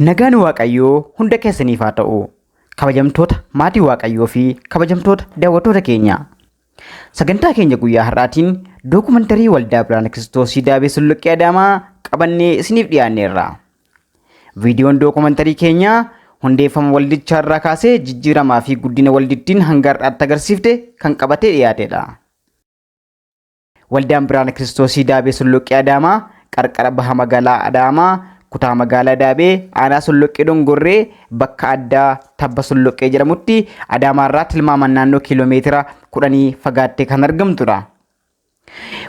Nagaan Waaqayyoo hunda keessaniif haa ta'u. Kabajamtoota maatii Waaqayyoo fi kabajamtoota daawwattoota keenya. Sagantaa keenya guyyaa har'aatiin dookumantarii Waldaa Birhaana Kiristoosii Daabee Sulluqqee Adaamaa qabannee isiniif dhiyaanneerra. Viidiyoon dookumantarii keenyaa hundeeffama waldichaa irraa kaasee jijjiiramaa fi guddina waldittiin hanga har'aatti agarsiifte kan qabatee dhiyaatedha. Waldaan Biraana Kiristoosii Daabee Solloqqee Adaamaa qarqara baha magaalaa Adaamaa kutaa magaalaa Daabee aanaa Solloqqee Dongorree bakka addaa Tabba Solloqqee jedhamutti Adaamaarraa tilmaamaan naannoo kiiloomeetira kudhanii fagaattee kan argamtudha.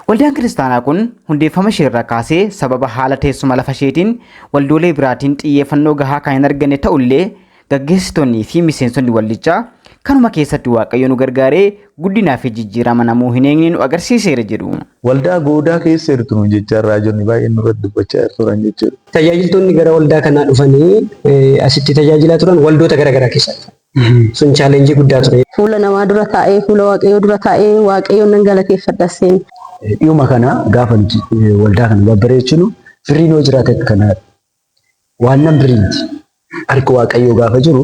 Waldaan kiristaanaa kun hundeeffama isheerraa kaasee sababa haala teessuma lafa isheetiin waldoolee biraatiin xiyyeeffannoo gahaa kan hin arganne ta'ullee Gaggeessitoonnii fi miseensonni waldichaa kanuma keessatti Waaqayyo nu gargaaree guddinaa fi jijjiirama namuu hin eegne nu agarsiiseera jedhu. Waldaa goodaa keessa jirtu nuun jechaa raajonni baay'een nurratti dubbachaa turan jechuudha. Tajaajiltoonni gara waldaa kanaa dhufanii asitti tajaajilaa turan waldoota gara garaa keessaa dhufan. Sun challenge guddaa ture. Fuula namaa dura taa'ee fuula Waaqayyoo dura taa'ee Waaqayyoon nan galateeffadha seen. Dhiyuma kana gaafa nuti waldaa kana babbareechinu firriin yoo jiraate akka kanaa Waannan birrii miti. Harki Waaqayyoo gaafa jiru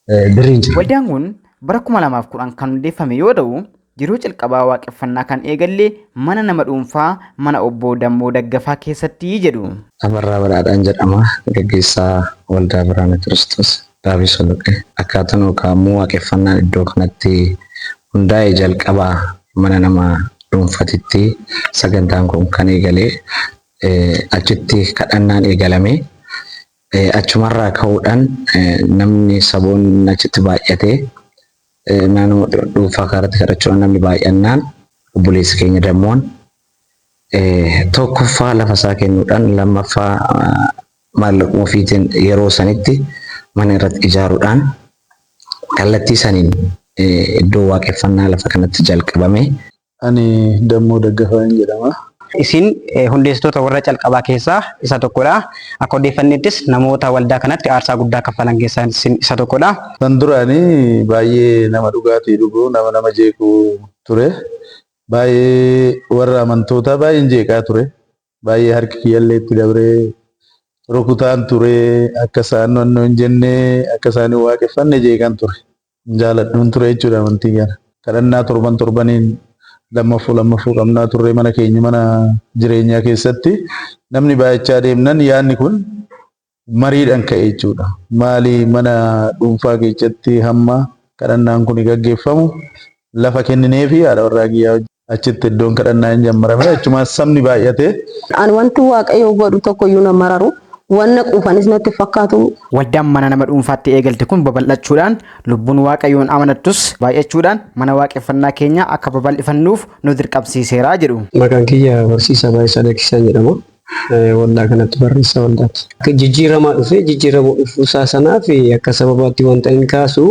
eh, birriin jira. Waldaan kun bara 2010 kan hundeeffame yoo ta'u, yeroo calqabaa waaqeffannaa kan eegalle mana nama dhuunfaa mana obbo Dammoo Daggafaa keessatti jedhu. Abarraa Badhaadhaan jedhama. Gaggeessaa Waldaa Biraana Kiristoos Daabee Soloqee. Akkaataan yookaan immoo waaqeffannaan iddoo kanatti hundaa'e jalqaba mana nama dhuunfatitti sagantaan kun kan eegale. Achitti kadhannaan eegalame. Achumarraa ka'uudhaan namni saboonni achitti baay'ate naannoo dhuunfaa kanarratti kadhachuudhaan namni baay'annaan obboleessi keenya dammoon tokkoffaa lafa isaa kennuudhaan lammaffaa maallaquma ofiitiin yeroo sanitti mana irratti ijaaruudhaan kallattii saniin iddoo waaqeffannaa lafa kanatti jalqabame. Ani Dammoo Daggafaan jedhama. Isin hundeessitoota warra calqabaa keessaa isa tokkodha. Akka odeeffanneettis namoota waldaa kanatti aarsaa guddaa kaffalan keessaa isin isa tokkodha. San dura ani baay'ee nama dhugaatii dhugu, nama nama jeequ ture. Baay'ee warra amantootaa baay'een jeeqaa ture. Baay'ee harki kiyyallee itti dabree rukutaan ture akka isaan wanno hin jenne akka isaan hin waaqeffanne jeeqan ture. Hin jaaladhuun ture jechuudha amantii kana. Kadhannaa torban torbaniin lammaffuu lammaffuu qabnaa turre mana keenya mana jireenyaa keessatti namni baay'achaa deemnan yaadni kun mariidhan ka'e jechuudha. Maali mana dhuunfaa keessatti hamma kadhannaan kun gaggeeffamu lafa kennineefi haadha warraa kiyyaa achitti iddoon kadhannaa hin jammarame achumaan sabni baay'ate. An wanti Waaqayyo godhu tokko iyyuu na mararu, waan na quufanis natti hin fakkaatu. Waldaan mana nama dhuunfaatti eegalte kun babal'achuudhaan, lubbuun Waaqayyoon amanattus baay'achuudhaan mana waaqeffannaa keenya akka babal'ifannuuf nu dirqamsiiseera jedhu. Maqaan kiyya Barsiisaa Baay'isaa Lakkisaan jedhama. waldaa kanatti barreessaa waldaati. Jijjiiramaa dhufee jijjiirama dhufuusaa sanaaf akka sababaatti wanta inni kaasu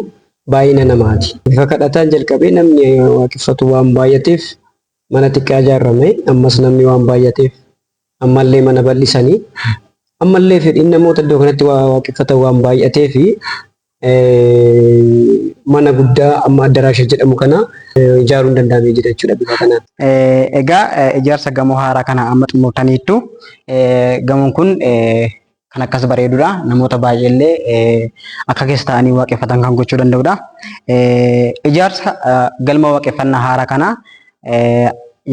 baay'ina namaati. Bifa kadhataan jalqabee namni waaqeffatu waan baay'ateef mana xiqqaa ijaarame, ammas namni waan baay'ateef ammallee mana bal'isanii, ammallee fedhiin namoota iddoo kanatti waa waaqeffatan waan baay'ateef mana guddaa amma addaraasha jedhamu kana ijaaruun danda'amee jira jechuudha bifa kanaan. Egaa ijaarsa gamoo haaraa kana amma xumurtaniittu. Gamoon kun kan akkas bareedudha. Namoota baay'eellee akka keessa taa'anii waaqeffatan kan gochuu danda'udha. Ijaarsa galma waaqeffannaa haaraa kana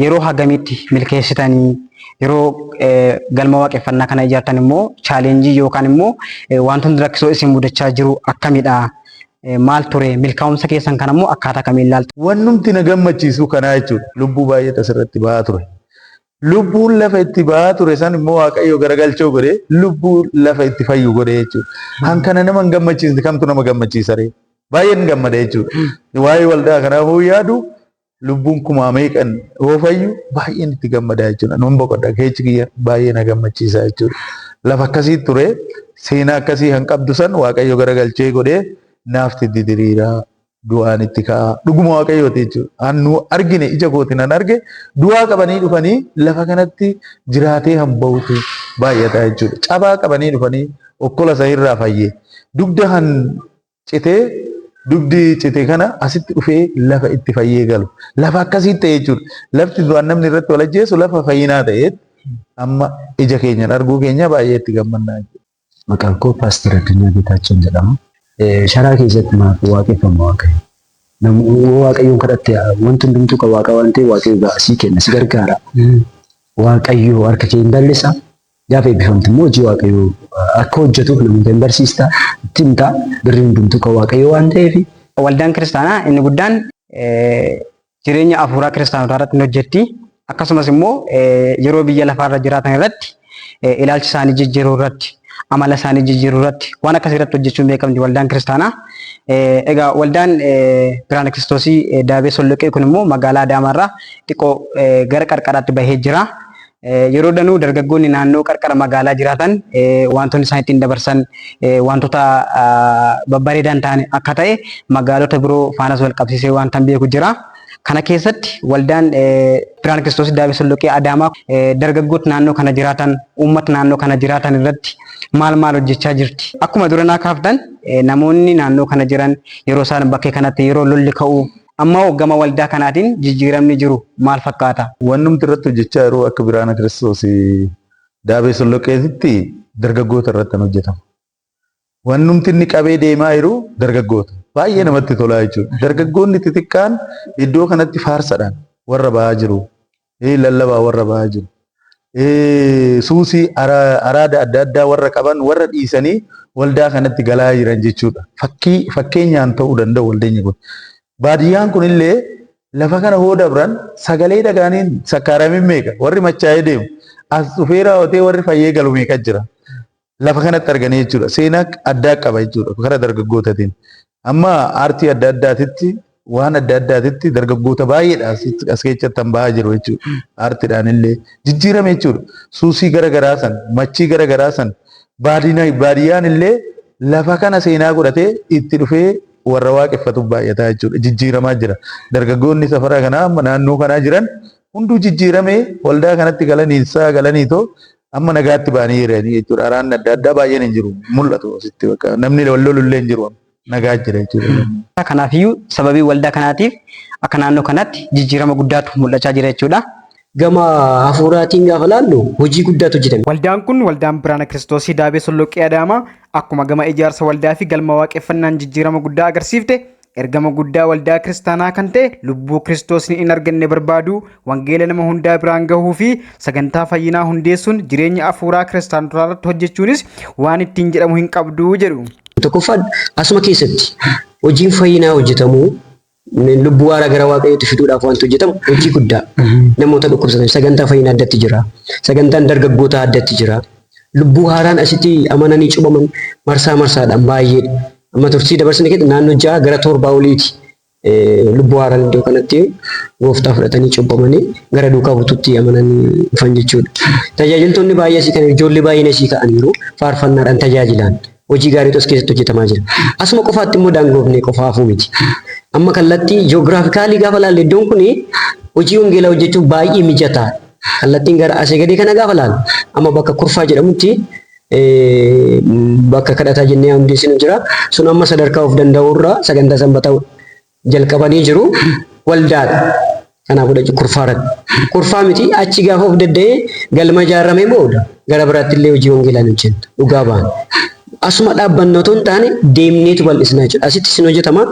yeroo hagamitti milkeessitanii yeroo galma waaqeffannaa kana ijaartan immoo chaalenjii yookaan immoo wantoonni rakkisoo isin mudachaa jiru akkamidha? Maal ture? Milkaa'umsa keessan kana immoo akkaataa kamiin ilaaltu? Wannumti na gammachiisu kanaa jechuudha. Lubbuu baay'eetu asirratti ba'aa ture. Lubbuun lafa itti ba'aa ture san immoo Waaqayyo garagalchoo godhee lubbuu lafa itti fayyu godhee jechuudha. Kan kana nama hin gammachiisne kamtu nama gammachiisa ree? Baay'een gammada jechuudha. Waa'ee waldaa kanaa hoo yaadu lubbuun kumaa meeqan yoo fayyu baay'een itti gammadaa jechuudha. Nan boqodha keechi kiyya baay'ee na gammachiisa jechuudha. Lafa akkasii ture seenaa akkasii kan qabdu san waaqayyo garagalchee godhee naafti itti diriiraa du'aan itti ka'aa dhuguma waaqayyooti jechuudha. Annu argine ija kooti nan arge du'aa qabanii dhufanii lafa kanatti jiraatee kan bahutu baay'ata jechuudha. Cabaa qabanii dhufanii okkola isa irraa fayyee dugda kan citee dugdi cite kana asitti dhufee lafa itti fayyee galu. Lafa akkasiitti ta'e jechuudha. Lafti duraan namni irratti wal ajjeesu lafa fayyinaa ta'eetti amma ija keenyaan arguu keenya baay'ee itti gammannaa jechuudha. Maqaan koo Paaster Addunyaa Geetaachoon jedhama. Sharaa keessatti maaf waaqeffama Waaqayyo? Namu yoo Waaqayyoon kadhatte wanti hundumtuu kan Waaqa waan ta'eef Waaqayyo ga'a sii kenna si gargaara. Waaqayyo harka kee hin bal'isa Gaafa eebbifamtu immoo hojii Waaqayyoo akka hojjetuuf namoota hin barsiista, itti himta, birri hundumtuu kan Waaqayyoo waan ta'eef. Waldaan kiristaanaa inni guddaan jireenya afuuraa kiristaanotaa irratti hin hojjetti. Akkasumas immoo yeroo biyya lafaa irra jiraatan irratti ilaalcha isaanii jijjiiruu irratti, amala isaanii jijjiiruu irratti waan akkasii irratti hojjechuun beekamti waldaan kiristaanaa. Egaa waldaan Biraana Kiristoosii Daabee Solloqee kun immoo magaalaa Adaamaa irraa xiqqoo gara qarqaraatti bahee jira. Yeroo danuu dargaggoonni naannoo qarqara magaalaa jiraatan wantoonni isaan ittiin dabarsan wantoota babbareedaan ta'an akka ta'e magaalota biroo faanas wal qabsiisee wanta beeku jira. Kana keessatti waldaan Birhaan Kiristoos Daabee Solloqee Adaamaa dargaggoota naannoo kana jiraatan, uummata naannoo kana jiraatan irratti maal maal hojjechaa jirti? Akkuma duranaa kaaftan namoonni naannoo kana jiran yeroo isaan bakkee kanatti yeroo lolli ka'u Amma hoo gama waldaa kanaatiin jijjiiramni jiru maal fakkaata? Wannumti irratti hojjechaa jiru akka Biraana Kiristoos Daabee Solloqqeetitti dargaggoota irratti kan hojjetamu. Wannumti inni qabee deemaa jiru dargaggoota. Baay'ee namatti tolaa jechuudha. Dargaggoonni xixiqqaan iddoo kanatti faarsadhaan warra ba'aa jiru. ee lallabaa warra bahaa jiru ee suusii ara- araada adda addaa warra qaban warra dhiisanii waldaa kanatti galaa jiran jechuudha. Fakkii fakkeenyaan ta'uu danda'u waldeenyi kun. Baadiyyaan kun illee lafa kana hoo dabran sagalee dhagaaniin sakkaaramiin meeqa warri machaa'ee deemu as dhufeeraa otee warri fayyee galu meeqa jira. lafa kanatti arganii jechuudha. Seenaa addaa qaba jechuudha karaa dargaggootatiin. Amma aartii adda addaatitti waan adda addaatitti dargaggoota baay'eedha as keessatti kan bahaa jiru jechuudha. Aartiidhaan illee jijjiirame jechuudha. Suusii gara garaa san, machii gara garaa san baadiyyaan illee lafa kana seenaa godhatee itti dhufee warra waaqeffatu baay'ataa jechuudha. Jijjiiramaa jira. Dargaggoonni safara kanaa naannoo kanaa jiran hunduu jijjiiramee waldaa kanatti galanii isaa galanii too Amma nagaatti ba'anii jiranii jechuudha. Araanni adda addaa baay'een hin jiru. Mul'atu asitti bakka namni wal lolu illee hin jiru. Nagaa jira jechuudha. Kanaafiyyuu sababii waldaa kanaatiif akka naannoo kanaatti jijjiirama guddaatu mul'achaa jira jechuudha. Gama hafuuraatiin gaafa laallu hojii guddaatu hojjetame. Waldaan kun waldaan Biraana Kiristoosii Daabee Solloqqee Adaamaa akkuma gama ijaarsa waldaa fi galma waaqeffannaan jijjiirama guddaa agarsiifte Ergama guddaa waldaa kiristaanaa kan ta'e lubbuu kiristoosni in arganne barbaaduu, wangeela nama hundaa biraan gahuu fi sagantaa fayyinaa hundeessuun jireenya afuuraa kiristaanotaa irratti hojjechuunis waan ittiin jedhamu hin qabdu jedhu. Tokkoffaan asuma keessatti hojiin fayyinaa hojjetamu lubbuu waaraa gara waaqayyootti fiduudhaaf wanti hojjetamu hojii guddaa namoota dhukkubsatan sagantaa fayyinaa addatti jira sagantaan dargaggootaa addatti jira Lubbuu haaraan asitti amananii cubaman marsaa marsaadhaan baay'eedha. Amma turtii dabarsine keessa naannoo ja'a gara torbaa oliiti lubbuu haaraan iddoo kanatti gooftaa fudhatanii cubbamanii gara duukaa bututti amananii dhufan jechuudha. Tajaajiltoonni baay'ee asii kan ijoollee baay'een asii ka'aniiru faarfannaadhaan tajaajilaan hojii gaariitu as keessatti hojjetamaa jira. Asuma qofaatti immoo daangoofnee qofa hafuu miti. Amma kallattii ji'oogiraafikaalii gaafa laalle iddoon kun hojii wangeelaa hojjechuuf baay'ee mijataa Kallattiin gara asii gadii kana gaafa laalu amma bakka kurfaa jedhamutti bakka kadhataa jennee hundeessinu jira. Sun amma sadarkaa of danda'uurra sagantaa sanbataa jalqabanii jiru waldaadha. Kanaaf godhachu kurfaa irratti. Kurfaa miti achi gaafa of dadda'ee galma ijaarramee booda gara biraatti illee hojii wangeelaan hojjenna. Dhugaa baana. Asuma dhaabbanna otoo hin taane deemneetu bal'isnaa jechuudha. Asitti isin hojjetama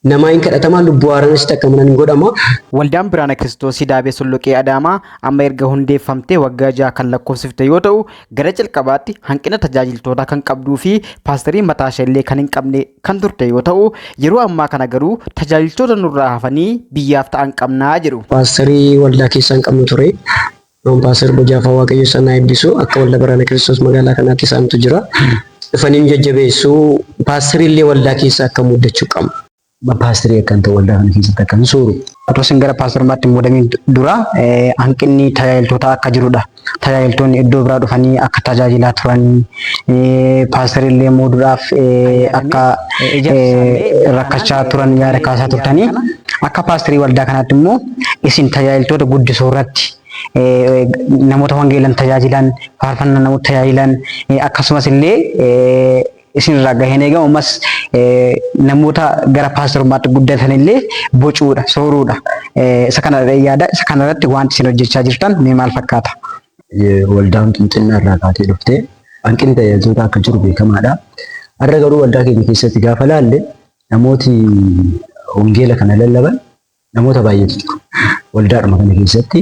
Namaa hin kadhatamaa lubbuu haaraanis takka mana hin godhamaa. Waldaan Biraana Kiristoosii Daabee Solloqee Adaamaa amma erga hundeeffamtee waggaa ja'a kan lakkoofsifte yoo ta'u, gara jalqabaatti hanqina tajaajiltootaa kan qabduu fi paastarii mataashee illee kan hin qabne kan turte yoo ta'u, yeroo ammaa kana garuu tajaajiltoota nurraa hafanii biyyaaf ta'an qabna jedhu. Paastarii waldaa keessaa hin qabnu ture. Ampaasar Bojaafa Waaqayyo isaan haa eebbisu. Akka waldaa Baraana Kiristoos magaalaa kanaatti isaantu jira. Dhufanii nu jajjabeessu. Paastarii illee waldaa keessa akka muuddachuu qabna. Paastarii akkan ta'u waldaa kana keessatti akkan sooru. Otoo isin gara paastarummaatti hin muudamin dura hanqinni tajaajiltootaa akka jirudha. Tajaajiltoonni iddoo biraa dhufanii akka tajaajilaa turan paastarii illee muuduudhaaf akka rakkachaa turan yaada kaasaa turtanii akka paastarii waldaa kanaatti immoo isin tajaajiltoota guddisuu irratti eh, namoota wangeelan tajaajilan faarfannaa namoota tajaajilan eh, akkasumas illee eh, isin irraa gaheen eegamu ammas eh, namoota gara paastorummaatti guddatan illee bocuudha sooruudha Eh, isa kana yaada isa kana irratti wanti isin hojjechaa jirtan mee maal fakkaata? Eh, waldaan qinxinnaa irraa kaatee dhufte hanqinni tajaajiltoota akka jiru beekamaadha. Har'a garuu waldaa keenya keessatti gaafa laalle namooti wangeela kana lallaban Namoota baay'eetu jiru. Waldaadhuma kana keessatti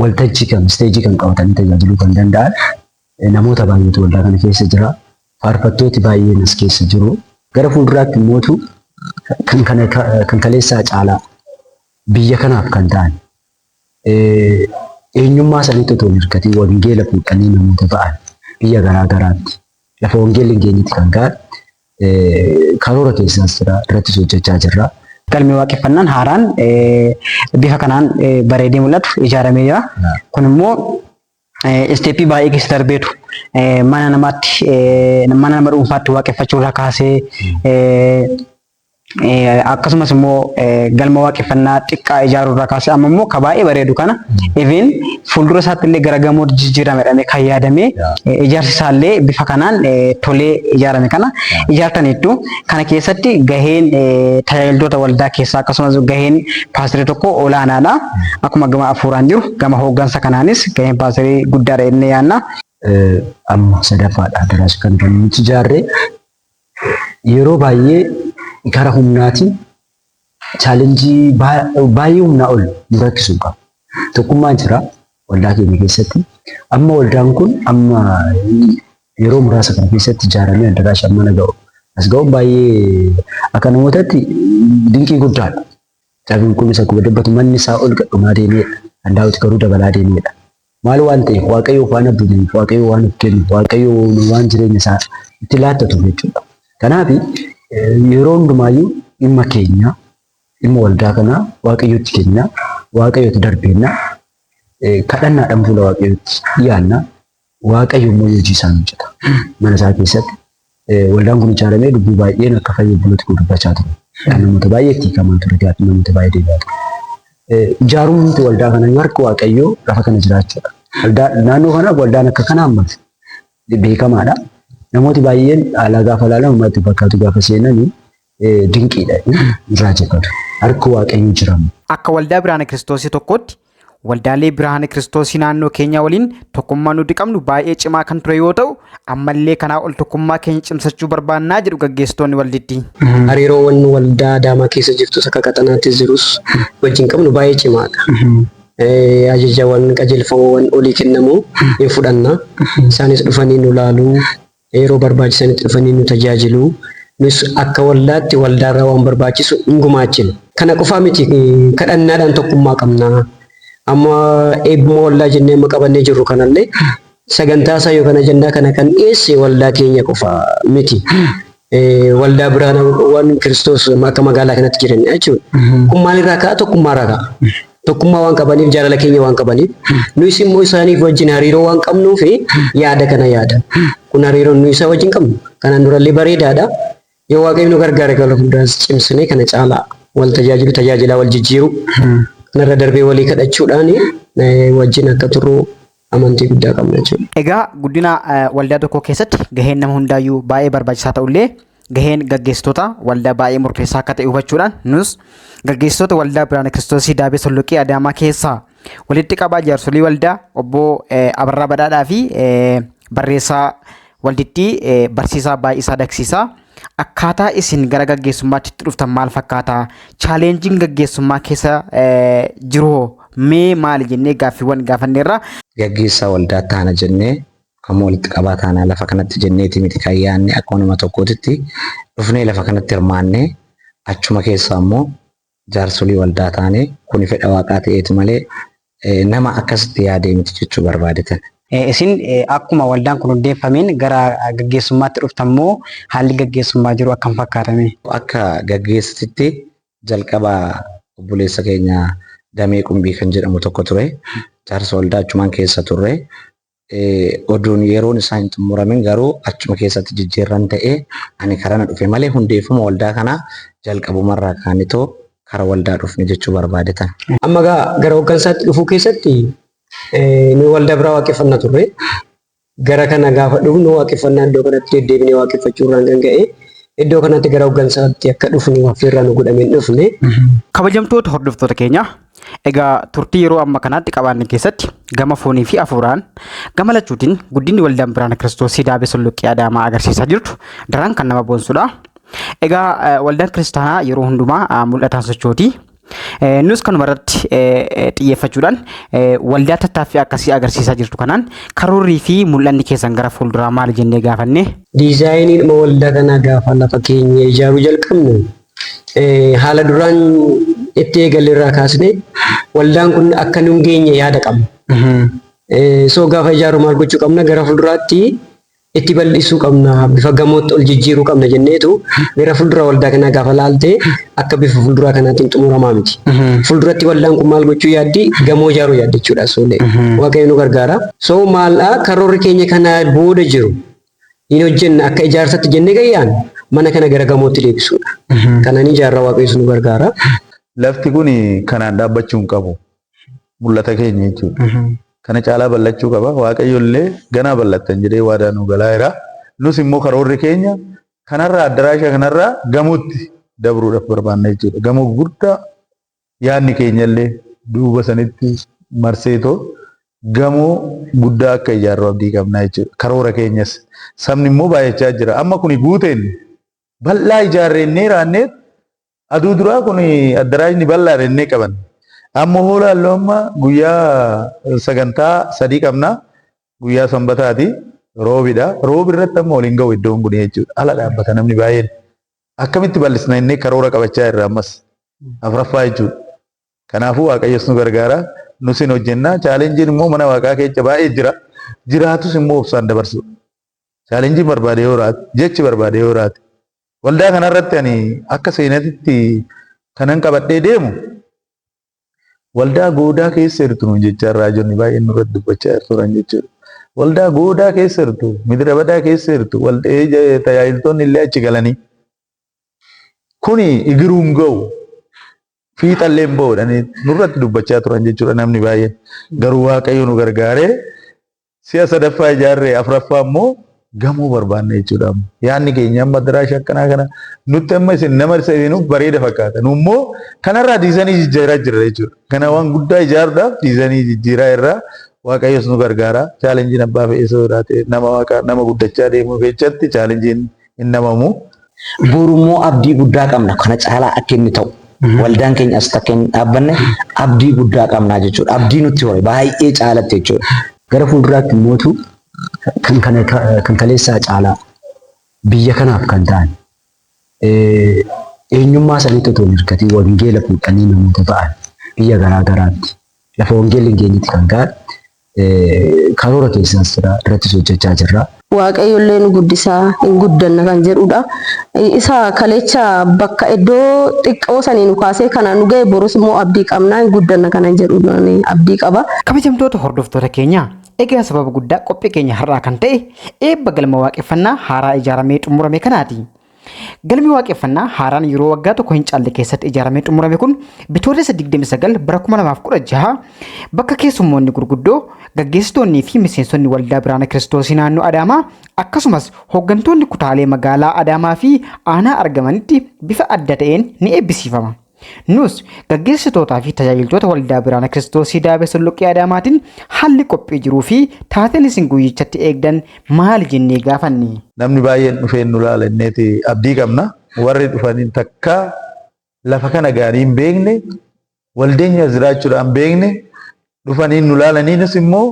waltajjii kan isteejii kan qabatanii tajaajiluu kan danda'an namoota baay'eetu waldaa kana keessa jira. Faarfattooti baay'een as keessa jiru. Gara fuulduraatti immootu kan kana kan kaleessaa caalaa biyya kanaaf kan ta'an eenyummaa isaaniitti otoo hin hirkatiin wangeela fuudhanii namoota ba'an biyya garaa garaatti lafa wangeelli hin geenyetti kan ga'an Karoora keessaas jira, irrattis hojjechaa jirra. Galmi Waaqeffannaan haaraan bifa kanaan bareedee mul'atu ijaaramee jira. Kun immoo isteeppii baay'ee keessa darbeetu mana namaatti mana nama dhuunfaatti waaqeffachuu irraa kaasee akkasumas immoo galma waaqeffannaa xiqqaa ijaaruu irraa kaasee amma immoo ka baay'ee bareedu kana even fuuldura isaatti illee gara gamoo jijjiirame jedhamee kan yaadame ijaarsi isaa illee bifa kanaan tolee ijaarame kana ijaartaniittu kana keessatti gaheen tajaajiltoota waldaa keessaa akkasumas gaheen paastirii tokko olaanaadha akkuma gama afuuraan jiru gama hooggansa kanaanis gaheen paastirii guddaadha jennee yaanna. Amma sadaffaadha daras kan nuti ijaarre yeroo baay'ee gara humnaatiin chaalenjii baay'ee humnaa ol nu rakkisuu qaba. Tokkummaan jira waldaa keenya keessatti. Amma waldaan kun amma yeroo muraasa kana keessatti ijaaramee addaraasha mana ga'u as ga'uun baay'ee akka namootatti dinqii guddaadha. Cabiin kunis akkuma dubbatu manni isaa ol gadhumaa deemeedha. Kan daawwiti garuu dabalaa deemeedha. Maal waan ta'eef Waaqayyoo faana buuneef Waaqayyoo waan of kennu Waaqayyoo waan jireenya isaa itti laattatu jechuudha. Kanaaf yeroo hundumaayyuu dhimma keenya dhimma waldaa kanaa Waaqayyootti kenna Waaqayyootti darbeenna kadhannaadhaan fuula Waaqayyootti dhiyaanna Waaqayyo immoo hojii isaa hojjeta mana isaa keessatti Waldaan kun ijaaramee lubbuu baay'een akka fayyee bullutti kun dubbachaa ture. Kan namoota baay'ee itti hiikamaa ture gaafii namoota baay'ee deebi'aa ture. Ijaarumti waldaa kana harka waaqayyoo lafa kana jiraachuudha. Waldaa naannoo kana waldaan akka kana ammas beekamaadha. Namooti baay'een haalaa gaafa ilaalan uummata itti fakkaatu gaafa seenan dinqiidha hin raajeffatu. Harki Waaqayyoo jiramu. Akka waldaa Biraana Kiristoosii tokkootti waldaalee Biraana Kiristoosii naannoo keenyaa waliin tokkummaa nuti qabnu baay'ee cimaa kan ture yoo ta'u ammallee kanaa ol tokkummaa keenya cimsachuu barbaannaa jedhu gaggeessitoonni waldittii. Hariiroowwan waldaa Adaamaa keessa jirtus akka qaxanaatti jirus wajjin qabnu baay'ee cimaadha. Ajajawwan qajeelfamawwan olii kennamu hin fudhanna. Isaanis dhufanii nu laaluu Yeroo barbaachisanitti dhufanii nu tajaajilu. Nus akka waldaatti waldaarraa waan barbaachisu in gumaachina. Kana qofaa miti, kadhannaadhaan tokkummaa qabna. Amma eebbuma waldaa jennee amma qabannee jirru kanallee sagantaasaa yookaan ajandaa kana kan dhiyeesse waldaa keenya qofa miti. Waldaa biraan waan Kiristoos akka magaalaa kanatti jiranidha jechuudha. Kun maalirraa ka'a? Tokkummaarraa ka'a. Tokkummaa waan qabaniif, jaalala keenya waan qabaniif, nuyis immoo isaaniif wajjin hariiroo waan qabnuu fi yaada kana yaada. Kun hariiroon nuyi isaa wajjin qabnu kanaan durallee bareedaadha. Yoo Waaqayyo nu gargaare gara fuulduraas cimsinee kana caalaa wal tajaajilu, tajaajilaa wal jijjiiru, kanarra darbee walii kadhachuudhaan eh, wajjin akka turru amantii guddaa qabna jechuudha. Egaa guddina waldaa tokkoo keessatti gaheen nama hundaayyuu baay'ee barbaachisaa ta'ullee gaheen gaggeessitoota waldaa baay'ee murteessaa akka ta'e hubachuudhaan nus gaggeessitoota waldaa Biraana Kiristoosii Daabee Solloqee Adaamaa keessaa walitti qabaa jaarsolii waldaa obbo Abarraa Badhaadhaa fi barreessaa Waldittii barsiisaa baay'isaa dagsiisaa akkaataa isin gara gaggeessummaatti itti dhuftan maal fakkaata? Chaaleenjiin gaggeessummaa keessa jiru hoo mee maali jennee gaaffiiwwan gaafanneerra. Gaggeessaa waldaa taana jennee amma walitti qabaa taanaa lafa kanatti jenneeti miti kan yaanne akkuma nama tokkootitti dhufnee lafa kanatti hirmaannee achuma keessaa immoo jaarsolii waldaa taane kuni fedha Waaqaa ta'eeti malee nama akkasitti yaadee miti jechuu barbaade tan. Isin akkuma waldaan kun hundeeffameen gara gaggeessummaatti dhuftan moo haalli gaggeessummaa jiru akkam fakkaata mee? Akka gaggeessititti jalqaba obboleessa keenya Damee Qumbii kan jedhamu tokko ture. Jaarsa waldaa achumaan keessa turre. Oduun yeroon isaa hin xumuramin garuu achuma keessatti jijjiirran ta'e ani karana dhufe malee hundeeffama waldaa kanaa jalqabumarraa kaanitoo kara waldaa dhufne jechuu barbaadetan. Amma gaa gara hoggansaatti dhufuu keessatti nu waldaa biraa waaqeffanna turre. Gara kana gaafa dhufnu waaqeffannaa iddoo kanatti deddeebinee waaqeffachuurraan kan ka'e iddoo kanatti gara hoggansaatti akka dhufnu affeerraa nu godhameen dhufne. Kabajamtoota hordoftoota keenya Egaa turtii yeroo amma kanaatti qabaanne keessatti gama foonii fi hafuuraan gama lachuutiin guddinni waldaan biraana kiristoos sidaabee sulluqqee adaamaa agarsiisaa jirtu daraan kan nama boonsudha. Egaa waldaan kiristaanaa yeroo hundumaa mul'ataan sochooti. Nus kanuma irratti xiyyeeffachuudhaan waldaa tattaaffii akkasii agarsiisaa jirtu kanaan karoorrii fi mul'anni keessan gara fuulduraa maali jennee gaafanne. Diizaayiniidhuma waldaa kanaa gaafa lafa keenya ijaaruu jalqabnu haala duraan itti eegalle irraa kaasnee waldaan kun akka nun geenye yaada qabna. So gaafa ijaaru maal gochuu qabna gara fuulduraatti itti bal'isuu qabna bifa gamootti ol jijjiiruu qabna jenneetu gara fuuldura waldaa kanaa gaafa laalte akka bifa fuulduraa kanaatiin xumuramaa miti. Fuulduratti waldaan kun maal gochuu yaaddi gamoo ijaaruu yaaddi jechuudha soolee waaqayyo nu gargaara. So maal karoorri keenya kana booda jiru hin hojjenna akka ijaarsatti jenne gayyaan mana kana gara gamootti deebisuudha. Kananii jaarraa waaqayyoos nu gargaara. Lafti kun kanaan dhaabbachuu hin qabu. Mul'ata keenya jechuudha. Kana caalaa bal'achuu qaba. Waaqayyo illee ganaa bal'attan jedhee waadaa nu galaa jira. Nus immoo karoorri keenya kanarraa addaraasha kanarraa gamootti dabruudhaaf barbaanna jechuudha. Gamoo guddaa Yaadni keenyallee duuba sanitti marseetoo gamoo guddaa akka ijaarru abdii qabna jechuudha. Karoora keenyas. Sabni immoo baay'achaa jira. Amma kuni guuteen bal'aa ijaarre innee raanneet aduu duraa kun addaraashni bal'aadha innee qaban. Amma hoo laallu amma guyyaa sagantaa sadii qabna. Guyyaa sanbataati. Roobidha. Roobi irratti amma waliin ga'u iddoon kun jechuudha. Ala dhaabbata namni baay'een. Akkamitti bal'isna innee karoora qabachaa irra ammas afraffaa jechuudha. Kanaafuu Waaqayyos nu gargaara nus hin hojjenna. Chaalenjiin immoo mana waaqaa keessa baay'ee jira. Jiraatus immoo obsaan dabarsuudha. Chaalenjiin barbaade yoo raate, jechi barbaade yoo raate. Waldaa kanarratti ani akka seenatitti kanan qabadhee deemu Waldaa goodaa keessa jirtu nuun jechaa raajonni baay'een nurratti dubbachaa jirtu turan jechuudha. Waldaa goodaa keessa jirtu, midira badaa keessa jirtu, tajaajiltoonni illee achi galanii. Kuni igiruun ga'u, fiixallee hin ba'u jedhanii nurratti dubbachaa turan jechuudha namni baay'een. Garuu Waaqayyo nu gargaaree Si'a sadaffaa ijaarre afraffaa immoo gamoo barbaanna jechuudha amma. Yaanni keenya amma diraasha akkanaa kana nutti amma isin nama isa seenuuf bareeda fakkaata. Nu immoo kanarraa diizanii jijjiiraa jirra jechuudha. Kana waan guddaa ijaaruudhaaf diizanii jijjiiraa irraa Waaqayyos nu gargaara. Chaalenjiin abbaa fe'eesoo irraa ta'e nama waaqa nama guddachaa deemuu keessatti chaalenjiin hin dhamamu. Borummoo abdii guddaa qabna kana caalaa akka inni ta'u waldaan keenya asitti akka inni dhaabbanne abdii guddaa qabna jechuudha. Abdii nutti hore baay'ee caalatti jechuudha. Gara fuulduraatti mootu kan kana kan kaleessaa caalaa biyya kanaaf kan ta'an eenyummaa isaaniitti otoo hin hirkatiin wangeela fuudhanii namoota ta'an biyya garaa garaatti lafa wangeelli hin geenyetti kan ga'an Karoora keessaas jira, irrattis hojjechaa jirra. Waaqayyollee nu guddisa, hin guddanna kan jedhuudha. Isa kaleecha bakka iddoo xiqqoo sanii nu kaasee kanaan nu ga'e borus immoo abdii qabna, hin guddanna kanan jedhu abdii qaba. Kabajamtoota hordoftoota keenya, egaa sababa guddaa qophii keenya har'aa kan ta'e eebba Galma Waaqeffannaa haaraa ijaaramee xumurame kanaati. Galmi waaqeffannaa haaraan yeroo waggaa tokko hin caalle keessatti ijaaramee xumurame kun bitootessa 29 bara 2016 bakka keessummoonni gurguddoo gaggeessitoonnii fi miseensonni waldaa biraana kiristoosii naannoo Adaamaa akkasumas hooggantoonni kutaalee magaalaa Adaamaa fi aanaa argamanitti bifa adda ta'een ni eebbisiifama. Nus gaggeessitootaa fi tajaajiltoota waldaa Biraana Kiristoosii Daabee Solloqqee Adaamaatiin haalli qophii jiruu fi taateen isin guyyichatti eegdan maali jennee gaafanne. Namni baay'een dhufee nu laala jenneeti abdii qabna. Warri dhufanii takkaa lafa kana ga'anii hin beekne, waldeenya as jiraachuudhaan beekne, dhufanii nu laalaniinis immoo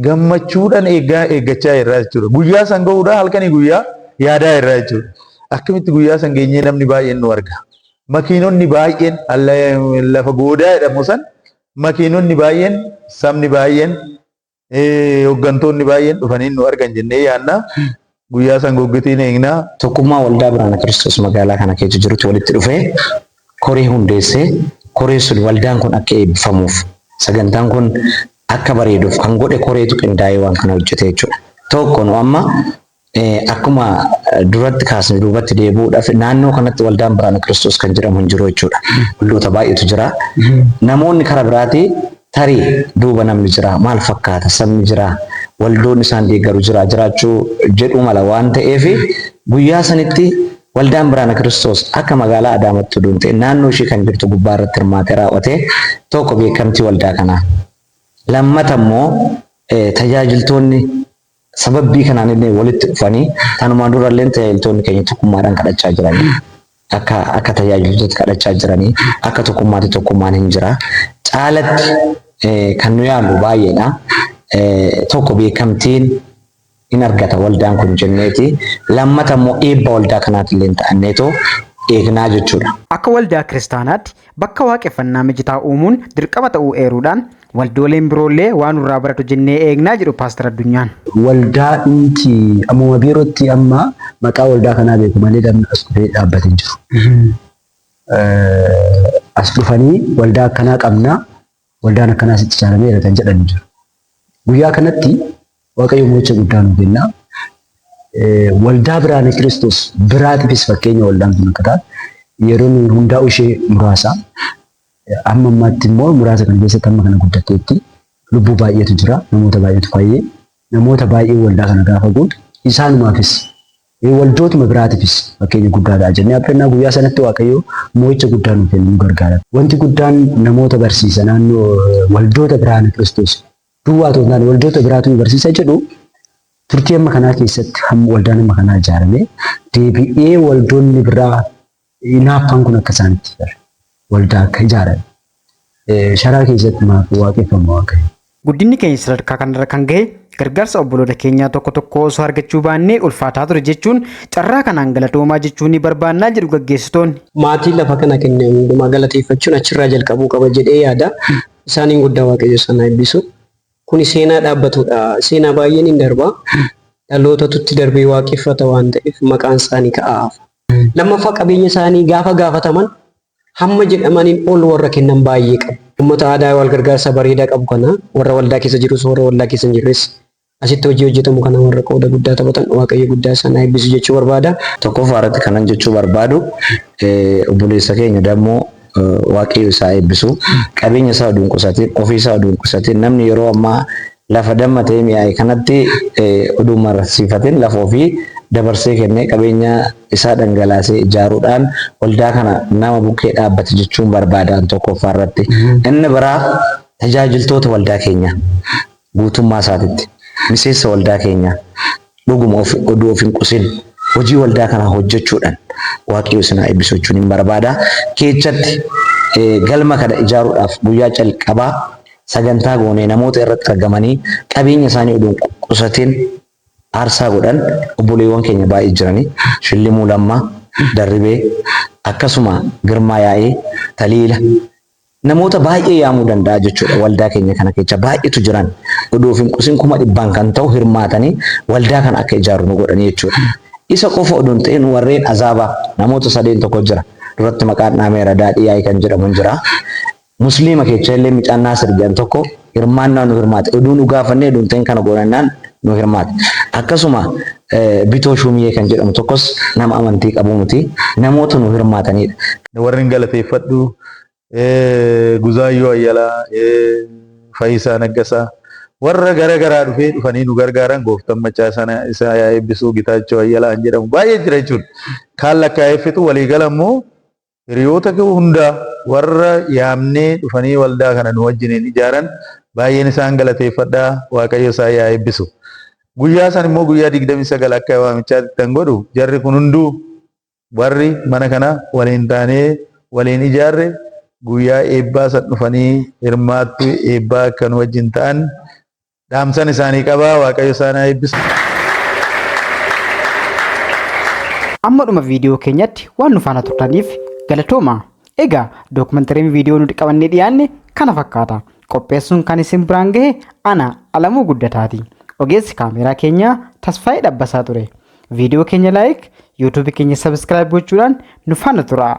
gammachuudhaan eegaa eeggachaa irraa jechuudha. Guyyaa san gahuudhaa halkanii guyyaa yaadaa irraa jechuudha. Akkamitti guyyaa san geenyee namni baay'een nu arga. Makiinonni baay'een lafa goodaa jedhamu san makiinonni baay'een sabni baay'een hooggantoonni baay'een dhufanii nu argan jennee yaadna. Guyyaa san goggitiin eegna. Tokkummaa Waldaa Biraana Kiristoos magaalaa kana keessa jirutti walitti dhufee koree hundeessee koreen sun waldaan kun akka eebbifamuuf sagantaan kun akka bareeduuf kan godhe koreetu qindaa'ee waan kana hojjete jechuudha. Tokko nu amma akkuma duratti kaasne duubatti deebi'uudhaaf naannoo kanatti waldaan Biraana Kiristoos kan jedhamu hin jiru jechuudha. Waldoota baay'eetu jira. Namoonni karaa biraatii Tarii duuba namni jiraa? Maal fakkaata? Sabni jiraa? Waldoonni isaan deeggaru jiraa? Jiraachuu jedhuu mala waan ta'eef guyyaa sanitti Waldaan Biraana Kiristoos akka magaalaa Adaamattuu duun ta'e naannoo ishii kan jirtu gubbaa irratti hirmaatee raawwate tokko beekamtii waldaa kanaa. Lammata immoo tajaajiltoonni Sababbii kanaan illee walitti dhufanii tanumaan dura illee tajaajiltoonni keenya tokkummaadhaan kadhachaa jiranii akka akka tajaajiltoota kadhachaa jiranii akka tokkummaatti tokkummaan hin jira. Caalatti kan nu yaalu baay'eedha. Tokko beekamtiin in argata waldaan kun jenneeti. Lammata immoo eebba waldaa kanaati illee ta'anneetoo eegnaa jechuudha. Akka waldaa kiristaanaatti bakka waaqeffannaa mijataa uumuun dirqama ta'uu eeruudhaan Waldooleen biroollee waa nurraa baratu jennee eegna jedhu Paastar Addunyaan. Waldaa dhumti ammuma biirottii amma maqaa waldaa kanaa beeku malee namni as dhufee dhaabbate hin jiru. As dhufanii waldaa akkanaa qabna waldaan akkanaa sitti ijaarameera kan jedhan hin jiru. Guyyaa kanatti Waaqayyo mo'icha guddaa nu kenna. Waldaa biraane Kiristoos biraatiifis fakkeenya waldaan kun akka taate yeroo nuyi hundaa'u ishee muraasa. Amma ammaatti immoo muraasa kana keessatti amma kana guddatteetti lubbuu baay'eetu jira. Namoota baay'eetu fayyee. Namoota baay'ee waldaa kana gaafa guutu isaanumaafis waldootuma biraatiifis fakkeenya guddaa ta'a jennee abdannaa guyyaa sanatti waaqayyoo moo'icha guddaa nuuf kennu nu gargaara. Wanti guddaan namoota barsiisa naannoo waldoota biraana kiristoos duwwaa otoo hin taane waldoota biraatu nu barsiisa jedhu turtii amma kanaa keessatti hamma waldaan amma kanaa ijaarame deebi'ee waldoonni biraa Hinaaffaan kun akka isaan itti bara waldaa akka ijaaran sharaa keessatti maaf waaqeffama waaqayyo. Guddinni keenya sadarkaa kanarra kan gahe gargaarsa obboloota keenyaa tokko tokkoo osoo argachuu baannee ulfaataa ture jechuun carraa kanaan galatoomaa jechuu ni barbaannaa jedhu gaggeessitoonni. Maatiin lafa kana kenne hundumaa galateeffachuun achirraa jalqabuu qaba jedhee yaada. Isaaniin guddaa Waaqayyo isaan haa eebbisu. Kuni seenaa dhaabbatudha. Seenaa baay'een hin darba. Dhalootatu itti darbee waaqeffata waan ta'eef maqaan isaanii ka'aa hafa. Lammaffaa qabeenya isaanii gaafa gaafataman hamma jedhamaniin ol warra kennan baay'ee qabu. Uummata aadaa wal gargaarsa bareedaa qabu kana warra waldaa keessa jirus warra waldaa keessa hin jirres asitti hojii hojjetamu kana warra qooda guddaa taphatan waaqayyo guddaa isaan haa eebbisu jechuu barbaada. Tokkoffaa irratti kanan jechuu barbaadu obboleessa keenya dammoo waaqayyo isaa eebbisu qabeenya isaa oduu hin qusatiin ofii isaa oduu hin qusatiin namni yeroo ammaa Lafa damma ta'ee mi'aaye kanatti oduu hin mararsiifatin lafa ofii dabarsee kennee qabeenya isaa dhangalaasee ijaaruudhaan waldaa kana nama bukkee dhaabbate jechuun barbaadaan tokkoffaa irratti. Inni biraa tajaajiltoota waldaa keenyaa guutummaa isaatitti miseensa waldaa keenyaa Dhuguma of, oduu of hin qusin. Hojii waldaa kanaa hojjechuudhaan Waaqayyo isin haa eebbisu jechuun hin barbaada. Keechatti eh, galma kana ijaaruudhaaf guyyaa calqabaa sagantaa goonee namoota irratti argamanii qabeenya isaanii oduu hin qusatin aarsaa godhan obboleewwan keenya baay'ee jiranii Shillimuu Lammaa, Darribee, akkasuma Girmaa Yaa'ee, Taliila, namoota baay'ee yaamuu danda'a jechuudha waldaa keenya kana kecha baay'eetu jiran oduuf hin qusin kuma dhibbaan kan ta'u hirmaatanii waldaa kana akka ijaaru nu godhanii jechuudha. Isa qofa oduun ta'in warreen azaaba namoota sadeen tokko jira duratti maqaan dhaameera daadhii yaa'ii kan jedhamu hin jira. Musliima kecha illee micaan Naasir jedhan tokko hirmaannaa nu hirmaate. Oduu nu gaafannee oduu hin ta'in kana goonannaan nu hirmaate. Akkasuma Bitoo Shuumiyee kan jedhamu tokkos nama amantii qabu miti. Namoota nu hirmaatanidha. Warren galateeffadhu Guzaayyoo Ayyalaa, Fayisaa Naggasaa warra gara garaa dhufee dhufanii nu gargaaran gooftan macaa sana isaa yaa eebbisuu Gitaachoo Ayyalaa kan jedhamu baay'ee jira jechuudha. Kaan lakkaa'eeffitu walii gala immoo Hiriyoota koo hunda warra yaamnee dhufanii waldaa kana nu wajjiniin ijaaran baay'een isaan galateeffadha, Waaqayyo isaan yaa eebbisu. Guyyaa sana immoo guyyaa 29 akka waamichaatti ittan godhu jarri kun hunduu warri mana kana waliin taanee waliin ijaarre guyyaa eebbaa san dhufanii hirmaattuu eebbaa akka nu wajjin ta'an Dhaamsan isaanii qaba. Waaqayyo isaan haa eebbisu. Amma dhuma viidiyoo keenyatti waan nu faana turtaniif galatoomaa. Egaa dookumentariin viidiyoo nuti qabannee dhiyaanne kana fakkaata. Qopheessuun kan isin biraan gahe ana Alamuu Guddataati. Ogeessi kaameeraa keenyaa Tasfaayee Dhabbasaa ture. Viidiyoo keenya laayik, yuutuubii keenya sabiskiraayib gochuudhaan nu faana turaa.